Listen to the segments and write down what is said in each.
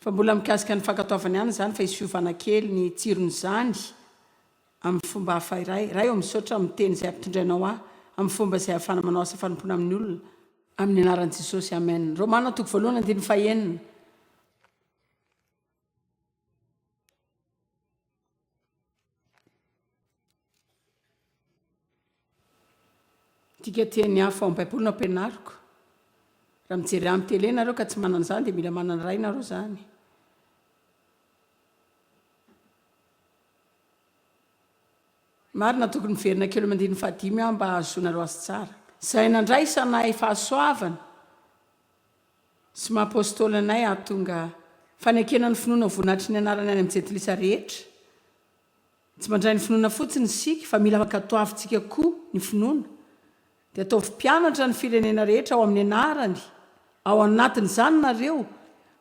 Fa mbola mikasika ny fankatoavana ihany izany fa isovana kely ny tsiron'izany amin'ny fomba hafa iray. Ray ô misaotra amin'ny teny izay ampitondrainao ahy amin'ny fomba izay ahafana manao asa fanompoana amin'ny olona amin'ny anaran'i Jesosy Amen. Romana toko voalohany andininy fahenina. Dika teny hafa ao amin'ny Baiboly no ampianariko. Raha mijery amin'ny tele ianareo ka tsy manana izany dia mila manana iray ianareo izany. Marina tokony miverina kely amin'ny andininy fahadimy aho mba hahazoanareo azy tsara. Izay nandray sanahy fahasoavana. Tsy maha Apostoly anay aho tonga fanekena ny finoana vonatry ny anarany any amin'ny jentilisa rehetra. Tsy mandray ny finoana fotsiny isika fa mila ankatoavintsika koa ny finoana. Dia ataovy mpianatra ny firenena rehetra ao amin'ny anarany, ao anatin'izany nareo,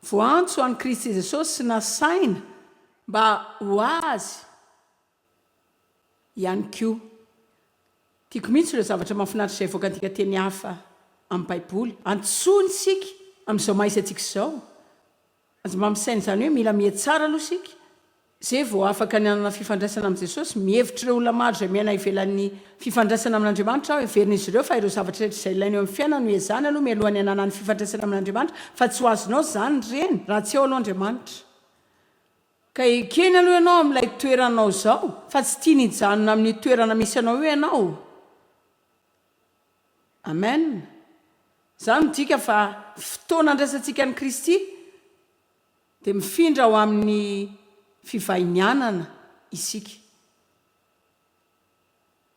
voantso an'i Kristy Jesosy sy nasaina mba ho Azy. ihany koa. Tiako mihitsy ireo zavatra mahafinaritra izay avoakantsika teny hafa amin'ny Baiboly. Antsoiny isika amin'izao maha izy antsika izao. Aza mba misaina izany hoe mila miha tsara aloha isika, izay vao afaka ny hanana fifandraisana amin'i Jesosy. Mihevitra ireo olona maro izay miaina ivelan'ny fifandraisana amin'Andriamanitra aho. Heverin'izy ireo fa ireo zavatra rehetra izay ilaina eo amin'ny fiainana no ezahina aloha mialohan'ny hananany fifandraisana amin'Andriamanitra, fa tsy ho azonao izany ireny raha tsy ao aloha Andriamanitra. Ka ekeny aloha ianao amin'ilay toeranao izao fa tsy tiany hijanona amin'io toerana misy anao io ianao. Amen. Izany midika fa fotoana handraisantsika an'i Kristy dia mifindra ho amin'ny fivahinianana isika.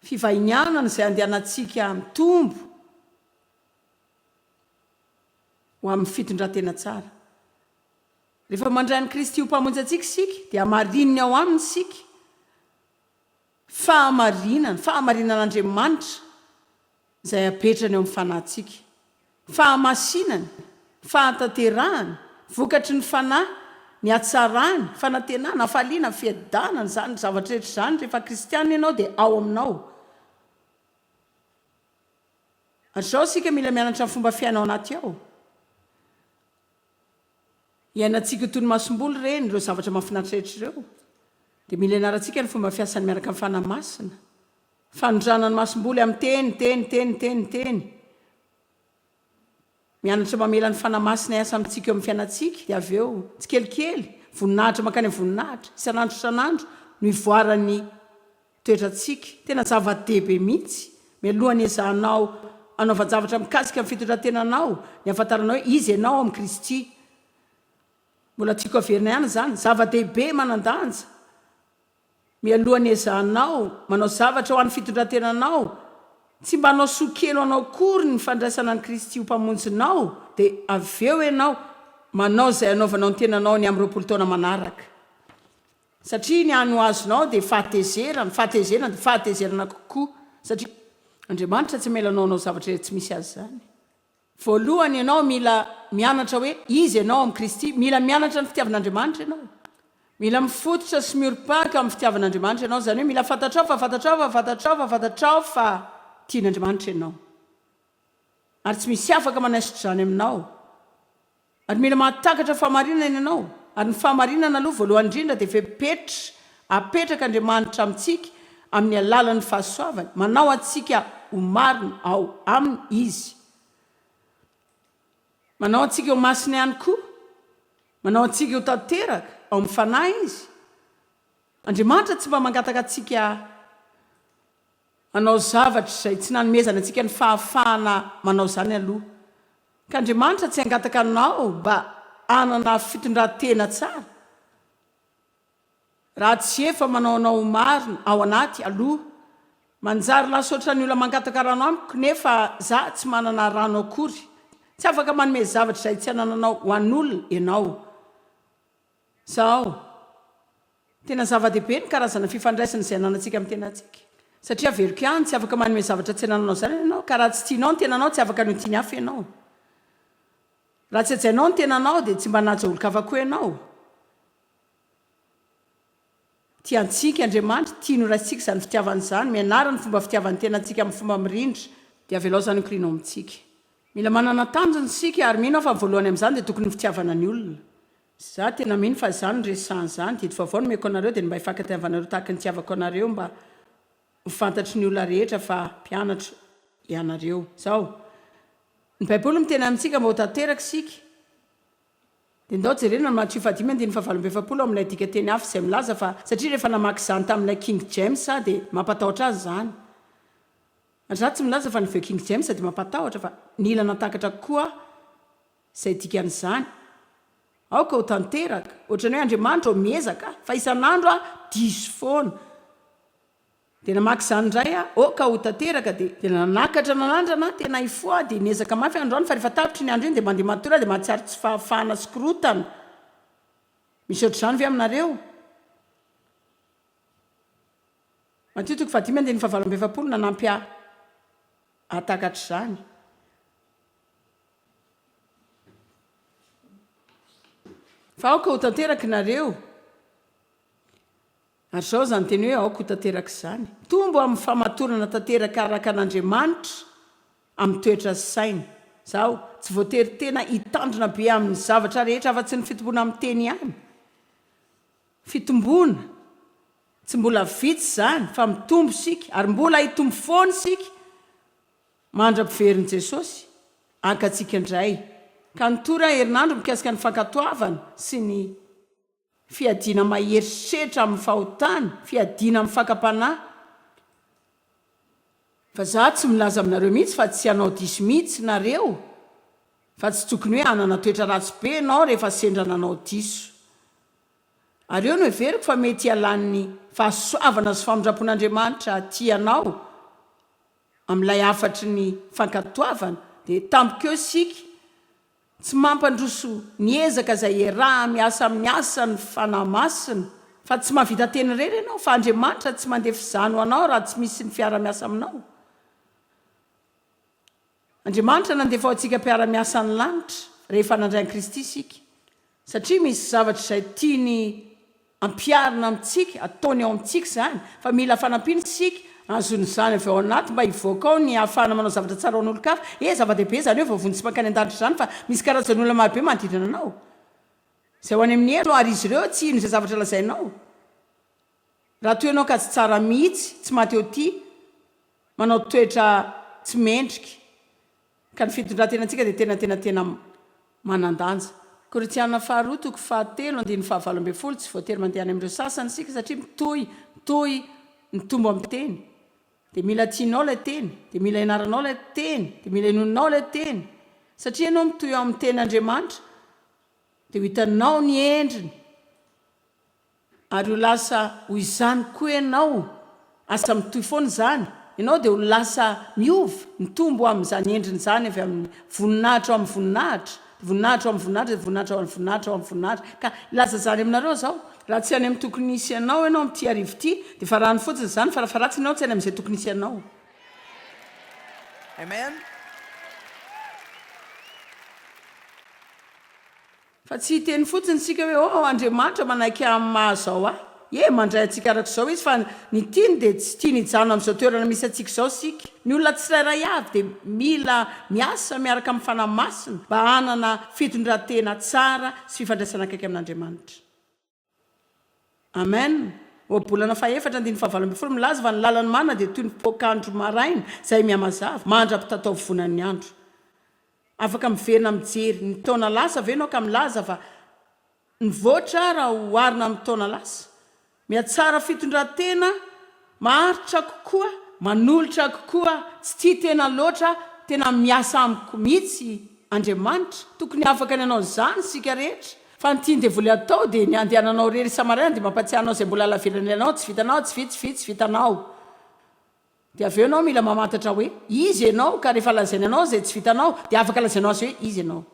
Fivahinianana izay andehanantsika mitombo ho amin'ny fitondran-tena tsara. Rehefa mandray an'i Kristy ho Mpamonjy antsika isika, dia hamarininy ao Aminy isika. Fahamarinana, fahamarinan'Andriamanitra izay apetrany eo amin'ny fanahintsika. Fahamasinany, fahatanterahany, vokatry ny Fanahy, ny hatsarany, fanantenana, hafaliana, fiadanana, izany zavatra rehetra izany, rehefa kristiana ianao dia ao aminao. Hatr'izao isika mila mianatra ny fomba fiaina ao anaty ao. Iainantsika toy ny masomboly ireny, ireo zavatra mahafinaritra rehetra ireo. Dia mila ianarantsika ny fomba fiasany miaraka amin'ny Fanahy Masina. Fanondràna ny masomboly amin'ny teny, teny, teny, teny, teny. Mianatra mamela ny Fanahy Masina hiasa amintsika eo amin'ny fiainantsika, dia avy eo, tsikelikely, voninahitra mankany amin'ny voninahitra, isan'andro isan'andro no ivoaran'ny. toetrantsika. Tena zava-dehibe mihitsy. Mialoha ny ezahanao hanaovan-javatra mikasika ny fitondran-tenanao, ny hahafantaranao hoe iza ianao amin'i Kristy. Mbola tiako haverina ihany izany, zava-dehibe manan-danja, mialoha ny ezahanao manao zavatra ho an'ny fitondran-tenanao, tsy mba hanao soa kely ho anao akory ny fandraisana an'i Kristy ho Mpamonjinao, dia avy eo ianao manao izay hanaovanao ny tenanao ny amin'ny roapolo taona manaraka. Satria ny hany ho azonao dia fahatezerana, fahatezerana dia fahatezerana kokoa, satria Andriamanitra tsy hamela anao hanao zavatra iray tsy misy azy izany. Voalohany ianao mila mianatra hoe iza ianao amin'i Kristy, mila mianatra ny fitiavan'Andriamanitra ianao, mila mifototra sy miorim-paka amin'ny fitiavan'Andriamanitra ianao, izany hoe mila fantatrao fa fantatrao fa fantatrao fa fantatrao fa tian'Andriamanitra ianao, ary tsy misy afaka manaisotra izany aminao. Ary mila mahatakatra fahamarinana ianao, ary ny fahamarinana aloha voalohany indrindra dia fepetra apetraka Andriamanitra amintsika amin'ny alalan'ny fahasoavany, manao antsika ho marina ao Aminy Izy. Manao antsika ho masina ihany koa, manao antsika ho tanteraka ao amin'ny Fanahy Izy. Andriamanitra tsy mba mangataka antsika. Manao zavatra izay tsy nanomezany antsika ny fahafahana manao izany aloha, ka Andriamanitra tsy hangataka anao mba hanana fitondran-tena tsara raha tsy efa manao anao ho marina ao anaty aloha. Manjary lasa ohatran'ny olona mangataka rano amiko nefa za tsy manana rano akory. Tsy afaka manome zavatra izay tsy anananao ho an'olona ianao. Zao. Tena zava-dehibe ny karazana fifandraisana izay ananantsika amin'ny tenantsika. Satria averiko ihany, tsy afaka manome zavatra tsy anananao izany ianao, ka raha tsy tianao ny tenanao, tsy afaka hanao tian'ny hafa ianao. Raha tsy hajainao ny tenanao, dia tsy mba hanaja olon-kafa koa ianao. Tia antsika Andriamanitra, tiany ho raintsika izany fitiavana izany, mianara ny fomba fitiavan'ny tenantsika amin'ny fomba mirindra, dia avelaozany ho klinaoma amintsika. Mila manana tanjona isika, ary mino aho fa ny voalohany amin'izany dia tokony ny fitiavana ny olona. Izaho tena mino fa izany no resahan' izany, didy vaovao nomeko anareo dia ny mba hifankatiavanareo tahaka ny nitiavako anareo mba ho fantatry ny olona rehetra fa mpianatro ianareo. Izao, ny Baiboly miteny amintsika mba ho tanteraka isika. Dia ndao jerena ny Matio fahadimy andininy fahavalo amby efapolo ao amin'ilay dikanteny hafa izay milaza fa satria rehefa namaky izany tamin'ilay King James aho dia mampatahotra azy izany. Ry zalahy tsy milaza fa ny The King James dia mampatahotra fa nila nantakatra kokoa aho izay dikan'izany. Aoka ho tanteraka, ohatran'ny hoe Andriamanitra ao miezaka fa isan'andro aho diso foana. Dia namaky izany indray aho, ok ho tanteraka dia. Dia nanakatra nanandrana aho tena hifoha aho dia niezaka mafy aho androany fa rehefa tapitra iny andro iny dia mandeha matory aho dia mahatsiaro tsy fahafahana sy korotana. Misy ohatr'izany ve aminareo? Matio toko fahadimy andininy fahavalo amby efapolo nanampy ahy hahatakatra izany. Fa aoka ho tanteraka nareo. Ary izao izany teny hoe aoka ho tanteraka izany. Mitombo amin'ny famatorana tanteraka araka an'Andriamanitra amin'ny toetra sy saina. Izaho tsy voatery tena hitandrina be amin'ny zavatra rehetra afa-tsy ny fitomboana amin'ny teny ihany. Fitomboana. Tsy mbola vitsy izany fa mitombo isika ary mbola hitombo foana isika mandra-piverin'i Jesosy haka antsika indray. Ka ny tour herinandro mikasika ny fankatoavana sy ny. Fiadiana mahery setra amin'ny fahotana, fiadiana amin'ny fakam-panahy. Fa za tsy milaza aminareo mihitsy fa tsy hanao diso mihitsy nareo, fa tsy tokony hoe hanana toetra ratsy be ianao rehefa sendra nanao diso. Ary eo no heveriko fa mety hialan'ny fahasoavana sy famindrampon'Andriamanitra aty ianao amin'ilay hafatry ny fankatoavana, dia tampoka eo isika, Tsy mampandroso ny ezaka izay iaraha miasa amin'ny asan'ny Fanahy Masina, fa tsy mahavita teny irery ianao, fa Andriamanitra tsy mandeha fizany ho anao raha tsy misy ny fiara-miasa aminao. Andriamanitra nandefa ho antsika mpiara-miasa ny lanitra, rehefa nandray an'i Kristy isika. Satria misy zavatra izay tiany ampiharina amintsika, ataony ao amintsika izany, fa mila fanampiana isika hahazoana izany avy ao anaty mba hivoaka ao ny hahafahana manao zavatra tsara ho an'olon-kafa. Ee, zava-dehibe izany hoe voavonjy sy mankany an-danitra izany, fa misy karazan'olona marobe manodidina anao izay ho any amin'ny helo, ary izy ireo tsy hino izay zavatra lazainao. Raha toa ianao ka tsy tsara mihitsy, tsy mahatehotia, manao toetra tsy mendrika, Ka ny fitondran-tenantsika dia tena tena tena manan-danja. Korintiana Faharoa toko fahatelo andininy fahavalo ambin'ny folo Tsy voatery mandeha any amin'ireo sasany isika satria mitohy mitohy ny tombo amin'ny teny. Dia mila tianao ilay teny, dia mila ianaranao ilay teny, dia mila inoanao ilay teny. Satria ianao mitohy ao amin'ny tenin'Andriamanitra dia ho hitanao ny endriny. Ary ho lasa ho izany koa ianao, asa mitohy foana izany, ianao dia ho lasa miova, mitombo ho amin'izany endriny izany avy amin'ny voninahitra ho amin'ny voninahitra, voninahitra ho amin'ny voninahitra dia voninahitra ho amin'ny voninahitra ho amin'ny voninahitra. Ka hilaza izany aminareo aho izao, raha tsy any amin'ny tokony hisy anao ianao amin'ity hariva ity, dia efa rano fotsiny izany, farafaharatsiny ianao tsy any amin'izay tokony hisy anao. Amen. Fa tsy hiteny fotsiny isika hoe, Oh, Andriamanitra manaiky ahy amin'ny maha izao ahy. Ie, mandray antsika araka izao Izy, fa ny tiany dia tsy tiany hijanona amin'izao toerana misy antsika izao isika. Ny olona tsirairay avy dia mila miasa miaraka amin'ny Fanahy Masina mba hanana fitondran-tena tsara sy fifandraisana akaiky amin'Andriamanitra. Amen! Ohabolana fahefatra andininy fahavalo ambin'ny folo milaza fa ny lalan'ny marina dia toy ny poak'andro maraina izay mihamazava, mandra-pitataovonan'ny andro. Afaka miverina mijery ny taona lasa ve ianao ka milaza fa nivoatra raha oharina amin'ny taona lasa? Mihatsara fitondran-tena. Maharitra kokoa, manolotra kokoa, tsy tia tena loatra, tena miasa amiko mihitsy Andriamanitra, tokony afaka ny hanao izany isika rehetra, fa ny tian'ny devoly hatao dia ny handehananao irery isa-maraina dia mampatsiahy anao izay mbola halavirana ilainao, tsy vitanao, tsy vita, tsy vita, tsy vitanao. Dia avy eo ianao mila mamantatra hoe iza ianao ka rehefa lazainy anao izay tsy vitanao dia afaka lazainao azy hoe iza ianao.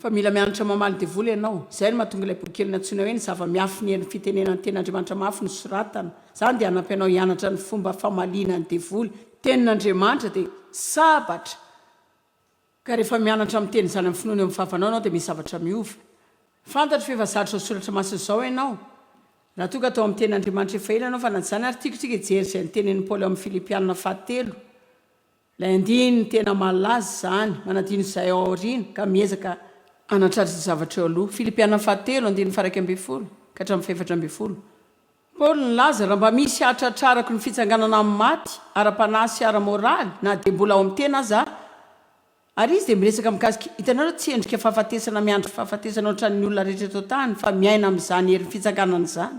Fa mila mianatra mamaly devoly ianao. Izay no mahatonga ilay boky keliny antsoina hoe Ny Zava-miafy ny Herin'ny Fitenenana ny Tenin'Andriamanitra Mafy nosoratana. Izany dia hanampy anao hianatra ny fomba famaliana ny devoly. Tenin'Andriamanitra dia sabatra, ka rehefa mianatra miteny izany amin'ny finoana eo amin'ny vavanao ianao dia misy zavatra miova. Fantatro fa efa zary izao soratra masina izao ianao. Raha toa ka tao amin'ny Tenin'Andriamanitra efa ela ianao fa na tsy izany ary, tiako tsika hijery izay notenenin'i Paoly ao amin'ny Filipiana fahatelo. Ilay andininy tena malaza izany, manadino izay ao aoriana ka miezaka hanatratra izay zavatra eo aloha. Filipiana fahatelo, andininy faha-iraika ambin'ny folo ka hatramin'ny fahefatra ambin'ny folo. Paoly nilaza, Raha mba misy hahatratrarako ny fitsanganana amin'ny maty, ara-panahy sy ara-moraly, na dia mbola ao amin'ny tena aza aho. Ary izy dia miresaka mikasika, hitanareo, tsy endrika fahafatesana miandry fahafatesana hoatran'ny olona rehetra eto an-tany, fa miaina amin'izany herin'ny fitsanganana izany.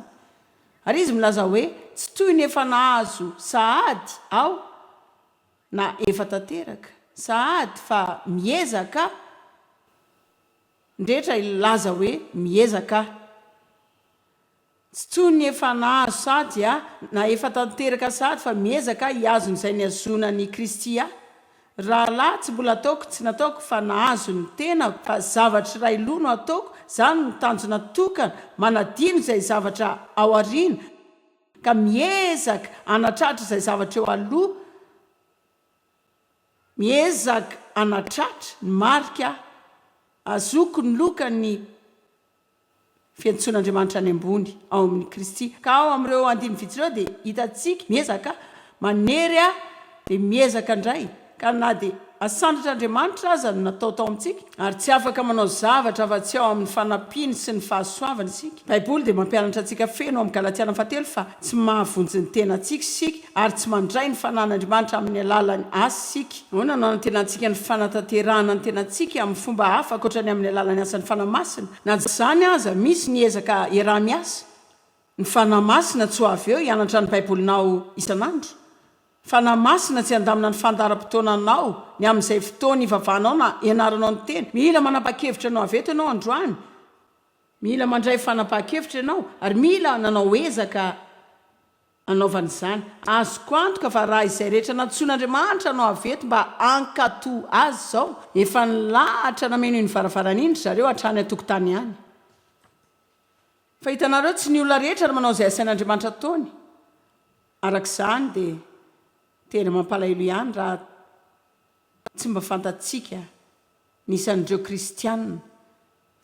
Ary izy milaza hoe, Tsy toy ny efa nahazo sahady aho, na efa tanteraka sahady, fa miezaka aho. Ny rehetra hilaza hoe, Miezaka aho. Tsy toy ny efa nahazo sahady aho, na efa tanteraka sahady, fa miezaka aho hihazo an'izay nihazoana an'i Kristy ahy. Rahalahy, tsy mbola ataoko, tsy nataoko fa nahazo ny tenako, fa zavatra iray loha no ataoko, izany no tanjona tokana, manadino izay zavatra ao aoriana, ka miezaka hanatratra izay zavatra eo aloha, miezaka hanatratra ny marika ahy, azoko ny loka ny. fiantsoan'Andriamanitra any ambony ao amin'i Kristy. Ka ao amin'ireo andininy vitsy ireo dia hitantsika miezaka manery ahy dia miezaka indray ka na dia asandratr'Andriamanitra aza no natao tao amintsika ary tsy afaka manao zavatra afa-tsy ao amin'ny fanampiany sy ny fahasoavany isika. Baiboly dia mampianatra antsika feno ao amin'ny Galatiana fahatelo fa tsy mahavonjy ny tenantsika isika ary tsy mandray ny fanan'Andriamanitra amin'ny alalan'ny asa isika. Ahoana no anantenantsika ny fanatanterahana ny tenantsika amin'ny fomba hafa ankoatra ny amin'ny alalan'ny asan'ny Fanahy Masina? Na dia izany aza, misy ny ezaka iaraha-miasa. Ny Fanahy Masina tsy ho avy eo hianatra ny Baibolinao isan'andro. Ny Fanahy Masina tsy handamina ny fandaharam-potoananao ny amin'izay fotoana ivavahanao na ianaranao ny Teny. Mila manapa-kevitra ny ho avy eto ianao androany. Mila mandray fanapahan-kevitra ianao ary mila nanao ezaka. Anaovany izany. Azoko antoka fa raha izay rehetra nantsoin'Andriamanitra no avy eto mba hankatò Azy izao, efa nilahatra nameno iny varavarana iny ry zareo hatrany an-tokotany any. Fa hitanareo, tsy ny olona rehetra no manao izay asain'Andriamanitra ataony. Araka izany dia tena mampalahelo ihany raha tsy mba fantatsika. ny isan'ireo kristiana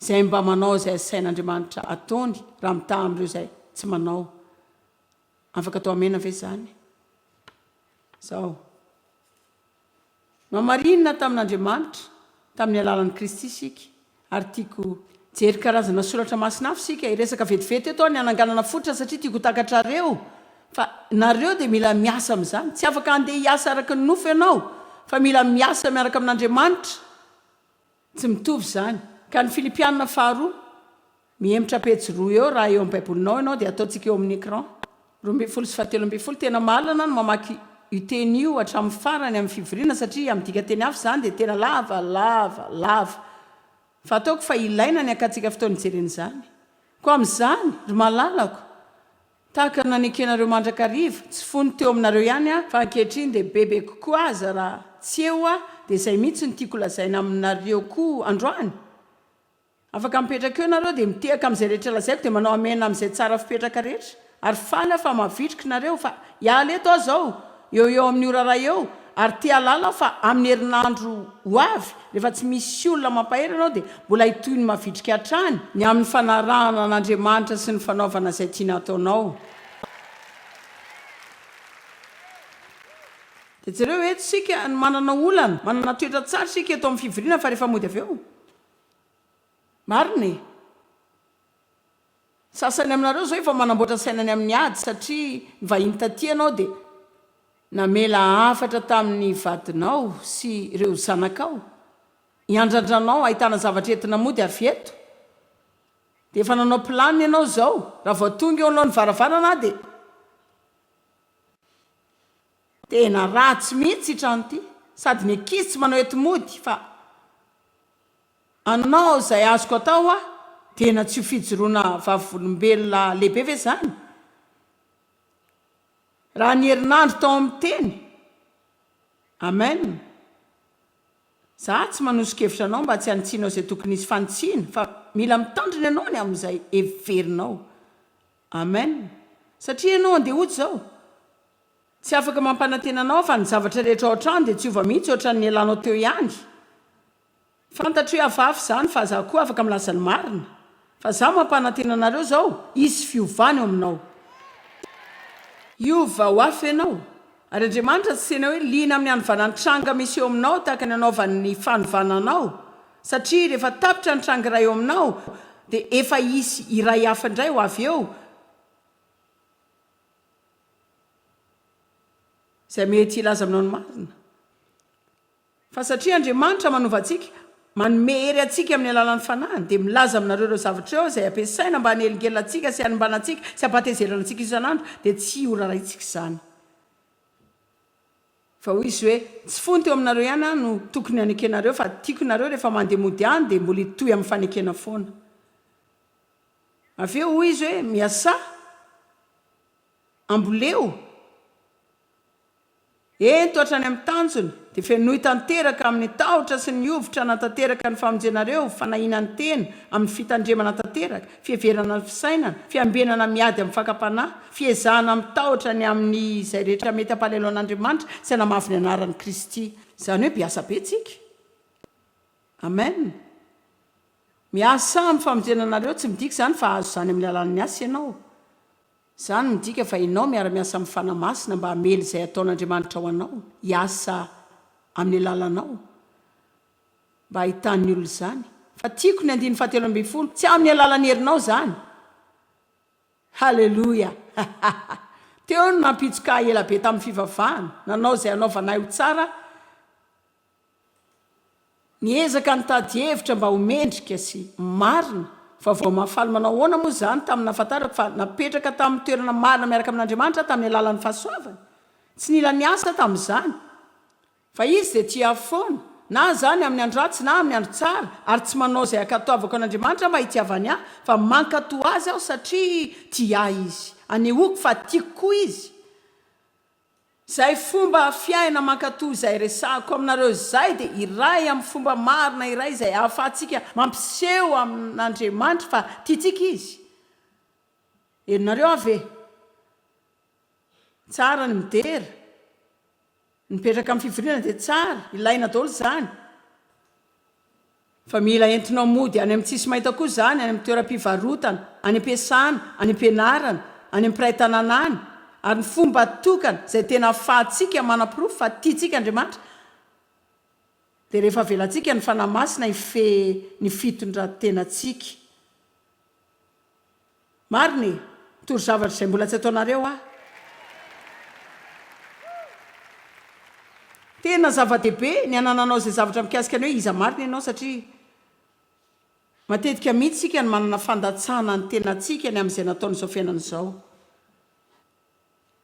izay mba manao izay asain'Andriamanitra ataony raha mitaha amin'ireo izay tsy manao. Afaka atao amena ve izany? Izao. Nohamarinina tamin'Andriamanitra tamin'ny alalan'i Kristy isika, ary tiako hijery karazana soratra masina hafa isika. Hiresaka vetivety eto aho ny hananganana fototra satria tiako ho takatrareo. Fa nareo dia mila miasa amin'izany. Tsy afaka handeha hiasa araka ny nofo ianao, fa mila miasa miaraka amin'Andriamanitra. Tsy mitovy izany. Ka ny Filipiana faharoa, mihemotra pejy roa eo raha eo amin'ny Baibolinao ianao dia ataontsika eo amin'ny écran. Roa ambin'ny folo sy fahatelo ambin'ny folo, tena mahalana ny mamaky io teny io hatramin'ny farany amin'ny fivoriana satria amin'ny dikanteny hafa izany dia tena lava, lava, lava. Fa ataoko fa ilaina ny hakantsika fotoana hijerena izany. Koa amin'izany, ry malalako, Tahaka ny nanekenareo mandrakariva, tsy fony teo aminareo ihany aho, fa ankehitriny dia bebe kokoa aza raha tsy eo aho, dia izay mihitsy no tiako lazaina aminareo koa androany. Afaka mipetraka eo nareo, dia mitehaka amin'izay rehetra lazaiko, dia manao Amena amin'izay tsara fipetraka rehetra, ary faly aho fa mavitrika nareo, fa hiala eto aho izao, eo eo amin'io raharaha eo ary te hahalala fa amin'ny herinandro ho avy rehefa tsy misy olona mampahery anao dia mbola hitohy ny mavitrika hatrany ny amin'ny fanarahana an'Andriamanitra sy ny fanaovana izay tiany hataonao. Dia jereo eto isika no manana olana, manana toetra tsara isika eto amin'ny fivoriana fa rehefa mody avy eo? Marina e! Ny sasany aminareo izao efa manamboatra sainany amin'ny ady satria ny vahiny taty ianao dia namela hafatra tamin'ny vadinao sy ireo zanakao hiandrandranao ahitana zavatra entina mody avy eto dia efa nanao plan ianao izao raha vao tonga eo alohan'ny varavarana aho dia Tena ratsy mihitsy ity trano ity, sady ny ankizy tsy manao enti-mody fa. Anao izay azoko atao hoa tena tsy ho fijoroana vavolombelona lehibe ve izany? Raha ny herinandro tao amin'ny teny. Amen. Za tsy manoso-kevitra anao mba tsy hanitsianao izay tokony hisy fanitsiana fa mila mitandrina ianao ny amin'izay heverinao. Amen. Satria ianao andeha hody izao. Tsy afaka mampanantena anao aho fa ny zavatra rehetra ao an-trano dia tsy hiova mihitsy ohatran'ny nialanao teo ihany. Fantatro iavafy izany fa za koa afaka milaza ny marina fa za mampanantena anareo zao hisy fiovana eo aminao. Hiova ho hafa ianao ary Andriamanitra tsy tena hoe liana amin'ny hanovana ny tranga misy eo aminao tahaka ny anaovany ny fanovana anao satria rehefa tapitra ny tranga iray eo aminao dia efa hisy iray hafa indray ho avy eo izay mety hilaza aminao ny marina. Fa satria Andriamanitra manova antsika, manome hery antsika amin'ny alalan'ny Fanahiny, dia milaza aminareo ireo zavatra ireo izay ampiasaina mba hanelingelina antsika sy hanimbana antsika sy hampatezerana antsika isan'andro, dia tsy ho rarahintsika izany. Fa hoy izy hoe, Tsy fony teo aminareo ihany aho no tokony hanekenareo, fa tiako nareo rehefa mandeha mody any dia mbola hitohy amin'ny fanekena foana. Avy eo hoy izy hoe, Miasà, amboleo, Ento hatrany amin'ny tanjona, dia fenoy tanteraka amin'ny tahotra sy ny hovitra hanatanteraka ny famonjenareo, fanahiana ny tena amin'ny fitandremana tanteraka, fiheverana ny fisainana, fiambenana miady amin'ny fakam-panahy, fiezahana amin'ny tahotra ny amin'ny izay rehetra mety hampalahelo an'Andriamanitra sy hanamavo ny anaran'i Kristy. Izany hoe biasa be tsika. Amen. Miasa amin'ny famonjena anareo tsy midika izany fa hahazo izany amin'ny alalan'ny asa ianao. Izany midika fa ianao miara-miasa amin'ny Fanahy Masina mba hamely izay ataon'Andriamanitra ho anao hiasa amin'ny alalanao mba hahitan'ny olona izany. Fa tiako ny andininy fahatelo ambin'ny folo, tsy amin'ny alalan'ny herinao izany. Haleloia! Teo no nampijokà ela be tamin'ny fivavahana, nanao izay hanaovanay ho tsara Niezaka nitady hevitra mba ho mendrika sy marina fa vao mahafaly manao ahoana moa izany tamin'ny nahafantarako fa napetraka tamin'ny toerana marina miaraka amin'Andriamanitra aho tamin'ny alalan'ny fahasoavany? Tsy nila niasa tamin'izany fa Izy dia tia ahy foana na izany amin'ny andro ratsy na amin'ny andro tsara ary tsy manao izay hankatoavako an'Andriamanitra mba hitiavany ahy fa mankatoa Azy aho satria tia ahy Izy. Anehoako fa tiako koa Izy. Zay fomba fiaina mankato izay resahako aminareo zay dia iray amin'ny fomba marina iray izay ahafahantsika mampiseho amin'Andriamanitra fa tiantsika Izy. Henonareo aho ve? Tsara ny midera, ny mipetraka amin'ny fivoriana dia tsara, ilaina daholo izany. Fa mila entinao mody any amin'ny tsisy maita koa izany, any amin'ny toeram-pivarotana, any am-piasana, any am-pianarana, any amin'ny mpiray tanàna any. Ary ny fomba tokana izay tena ahafahantsika manaporofo fa tiantsika Andriamanitra dia rehefa avelantsika ny Fanahy Masina hifehy ny fitondran-tenantsika. Maro ny toro zavatra izay mbola tsy ataonareo ah. Tena zava-dehibe ny anananao izay zavatra mikasika ny hoe iza marina ianao satria matetika mihitsy isika no manana fandatsahana ny tenantsika ny amin'izay nataon'izao fiainana izao.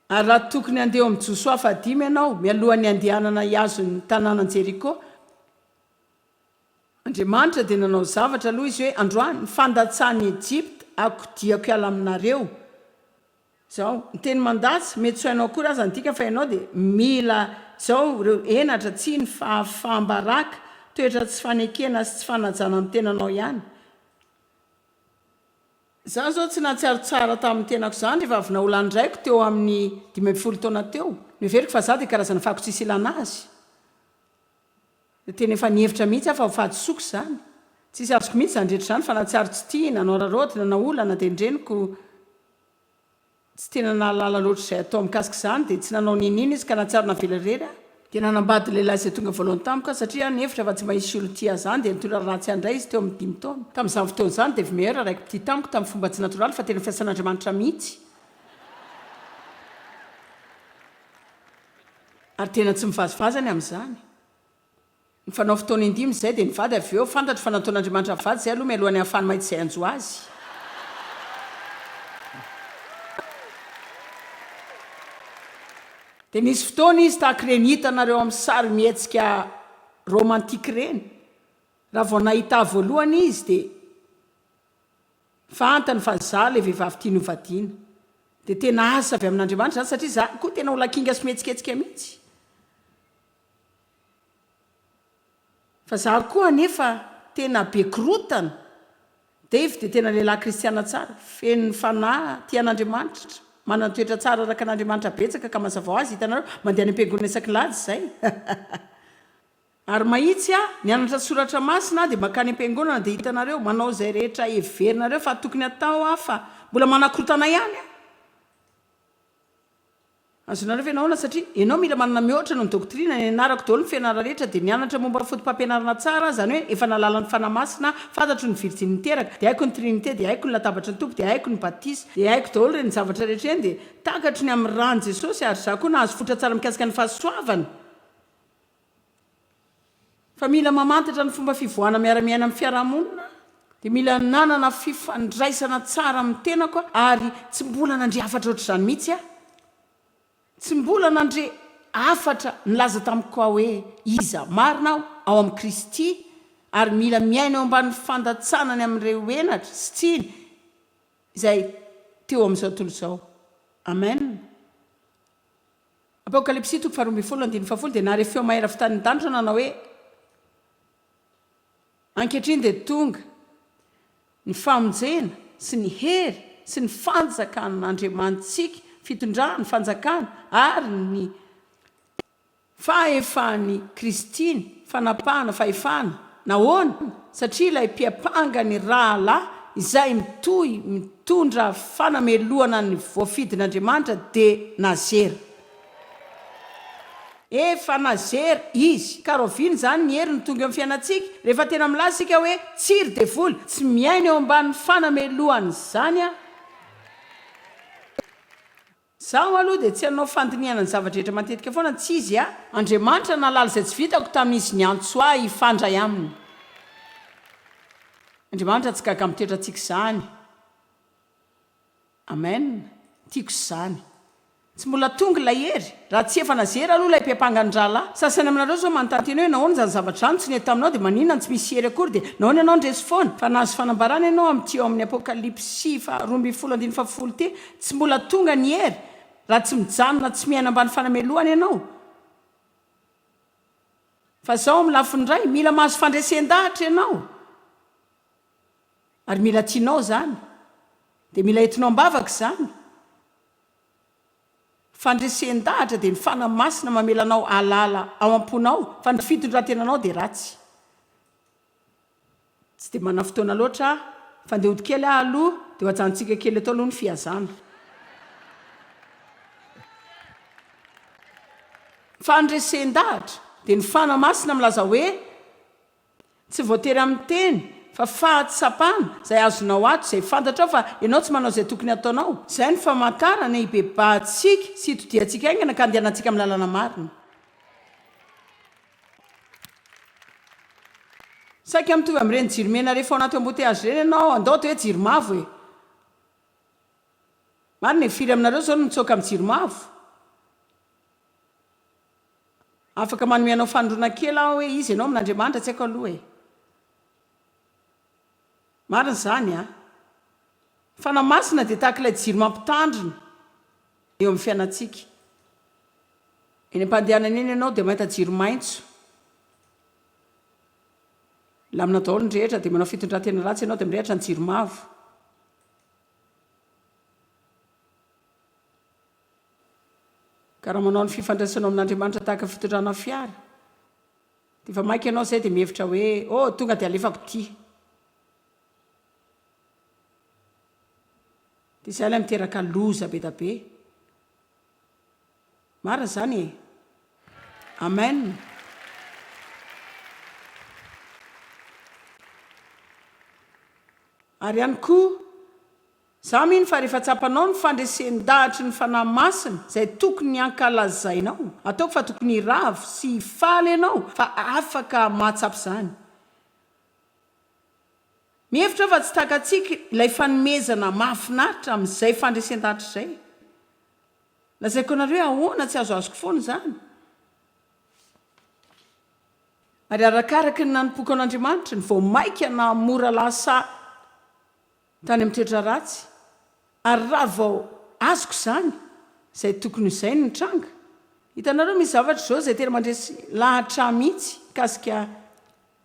Ary raha tokony handeha eo amin'i Josoa fahadimy ianao mialohan'ny handehanana hihazo ny tanànan'i Jeriko, Andriamanitra dia nanao zavatra aloha izy hoe androany ny fandatsahan'i Egypta akodiako hiala aminareo izao. Ny teny mandatsa, mety tsy ho hainao akory aza ny dikany fa ianao dia mila izao ireo henatra, tsiny, fahafaham-baraka, toetra tsy fanekena sy tsy fanajana amin'ny tenanao ihany. Izaho izao tsy nahatsiaro tsara tamin'ny tenako izany rehefa avy naola ny raiko teo amin'ny dimy ambin'ny folo taona teo. Noheveriko fa izaho dia karazana fako tsisy ilana azy. Tena efa nihevitra mihitsy aho fa ho fahadisoako izany. Tsisy azoko mihitsy izany rehetra izany fa na tsiaro tsy tia, na nohararaoty, na naolana dia ny reniko tsy tena nahalala loatra izay hatao mikasika izany dia tsy nanao n'inon'inona izy ka nahatsiaro navela irery aho. Dia nanambady lehilahy izay tonga voalohany tamiko aho satria aho nihevitra fa tsy mba hisy olon-tia ahy izany dia nitory ratsy ahy indray izy teo amin'ny dimy taona. Tamin'izany fotoana izany dia vmeilleur araiky mpitia tamiko tamin'ny fomba tsy natoraly fa tena fiasan'Andriamanitra mihitsy. Ary tena tsy mivazivazy any amin'izany. Ny fanao fotoana indimy izay dia nivady avy eo, fantatro fa nataon'Andriamanitra mivady izay aloha mialohan'ny hahafahany mahita izay hanjo azy. Dia nisy fotoana izy tahaka ireny hitanareo amin'ny sarimihetsika romantique ireny, raha vao nahita ahy voalohany izy dia. Fantany fa za le vehivavy tiany ho vadiana. Dia tena asa avy amin'Andriamanitra izany satria za koa tena olona kinga sy mihetsiketsika mihitsy. Fa za koa anefa tena be korotana. Dave dia tena lehilahy kristiana tsara, feno ny fanahy, tia an'Andriamanitra, manana ny toetra tsara araka an'Andriamanitra betsaka ka mazava ho azy, hitanareo, mandeha any am-piangonana isaky ny alahady izay. Ary mahitsy aho, mianatra soratra masina aho dia mankany am-piangonana dia hitanareo, manao izay rehetra heverinareo fa tokony hatao aho fa mbola manakotana ihany aho. Azonareo ve nahoana? Satria ianao mila manana mihoatra noho ny doctrine, nianarako daholo ny fianarana rehetra dia nianatra momba ny fotopampianarana tsara aho, izany hoe efa nahalala ny Fanahy Masina aho, fantatro ny virjiny niteraka, dia haiko ny Trinite, dia haiko ny latabatry ny Tompo, dia haiko ny batisa, dia haiko daholo ireny zavatra rehetra ireny, dia takatro ny amin'ny ràn'i Jesosy, ary izaho koa nahazo fotra tsara mikasika ny fahasoavana. Fa mila mamantatra ny fomba fivoahana miara-miaina amin'ny fiarahamonina, dia mila nanana fifandraisana tsara amin'ny tenako aho ary tsy mbola nandre hafatra ohatr'izany mihitsy aho. Tsy mbola nandre hafatra nilaza tamiko aho hoe iza marina aho ao amin'i Kristy ary mila miaina eo ambanin'ny fandatsanany amin'ireo henatra sy tsiny izay teo amin'izao tontolo izao. Amen. Apokalypsy toko faharoa ambin'ny folo andininy fahafolo dia nahare feo mahery avy tany an-danitra nanao hoe, Ankehitriny dia tonga ny famonjena sy ny hery sy ny fanjakan'Andriamanitsika, fitondrany, fanjakany ary ny Fahefan'i Kristy ny fanapahana fahefana. Nahoana? Satria ilay Mpiampanga ny rahalahy izay mitohy mitondra fanamelohana ny voafidin'Andriamanitra dia nazera. Efa nazera Izy. Ka rahoviana izany ny heriny tonga eo amin'ny fiainantsika? Rehefa tena milaza isika hoe, Tsy ry devoly, tsy miaina eo ambanin'ny fanamelohan'izany aho. Zaho aloha dia tsy hanao fandinihana ny zava-drehetra matetika foana tsy izy a! Andriamanitra nahalala izay tsy vitako tamin'izy niantso ahy hifandray aminy. Andriamanitra tsy gaga amin'ny toetrantsika izany. Amen! Tiako izany. Tsy mbola tonga ilay hery. Raha tsy efa nazery aloha ilay bem-panga ny rahalahy. Sasany aminareo izao manontany tena hoe nahoana izany zavatra izany tsy nety taminao dia maninona no tsy misy hery akory dia nahoana ianao no resy foana? Fa nahazo fanambarana ianao amin'ity ao amin'ny Apokalypsy faharoa ambin'ny folo andininy fahafolo ity Tsy mbola tonga ny hery raha tsy mijanona tsy miaina ambany fanamelohana ianao. Fa izao amin'ny lafiny iray, mila mahazo fandresen-dahatra ianao, ary mila tianao izany, dia mila entinao am-bavaka izany. Fandresen-dahatra dia ny Fanahy Masina mamela anao hahalala ao am-ponao fa ny fitondran-tenanao dia ratsy. Tsy dia manana fotoana loatra aho, fa ndeha hody kely aho aloha, dia ho ajanontsika kely eto aloha ny fihazana. Fandresen-dahatra, dia ny Fanahy Masina milaza hoe, Tsy voatery amin'ny teny, fa fahatsapana, izay azonao ato, izay fantatrao fa ianao tsy manao izay tokony hataonao. Izay no famantarana hibebahantsika sy hitodihantsika haingana ka handehanantsika amin'ny lalana marina. Saika mitovy amin'ireny jiro mena rehefa ao anaty embouteillages ireny ianao, andao atao hoe jiro mavo e! Marina e, firy aminareo izao no mitsoaka amin'ny jiro mavo? Afaka manome anao fanondroana kely aho hoe iza ianao amin'Andriamanitra tsy haiko aloha e! Marina izany an! Fanahy Masina dia tahaka ilay jiro mampitandrina, eo amin'ny fiainantsika. Eny am-pandehanana eny ianao dia mahita jiro maitso, milamina daholo ny rehetra, dia manao fitondran-tena ratsy ianao dia mirehitra ny jiro mavo. Ka raha manao ny fifandraisanao amin'Andriamanitra tahaka ny fitondrana fiara, dia efa maika ianao izay dia mihevitra hoe, oh, tonga dia alefako ity. Dia izay ilay miteraka loza be da be. Marina izany e. Amen. Ary ihany koa, izaho mino fa rehefa tsapanao ny fandresen-dahatry ny Fanahy Masina izay tokony hankalazainao, ataoko fa tokony hiravo sy hifaly ianao fa afaka mahatsapa izany. Mihevitra aho fa tsy takatsika ilay fanomezana mahafinaritra amin'izay fandresen-danitra izay. Lazaiko anareo hoe ahoana tsy azoazoko foana izany. Ary arakaraky ny nanompoako an'Andriamanitra, ny vao maika naha-mora lasa, tany amin'ny toetra ratsy, ary raha vao azoko izany, izay tokony ho izay no nitranga. Hitanareo, misy zavatra izao izay tena mandresy lahatra ahy mihitsy mikasika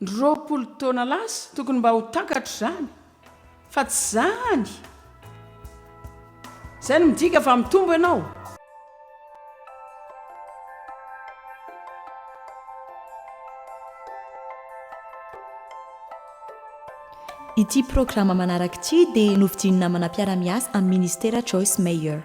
ny roapolo taona lasa, tokony mba ho takatro izany, fa tsy izany! Izay no midika fa mitombo ianao. Ity programa manaraka ity dia novidian'ny namana mpiara-miasa amin'ny Minisitera Joyce Meyer.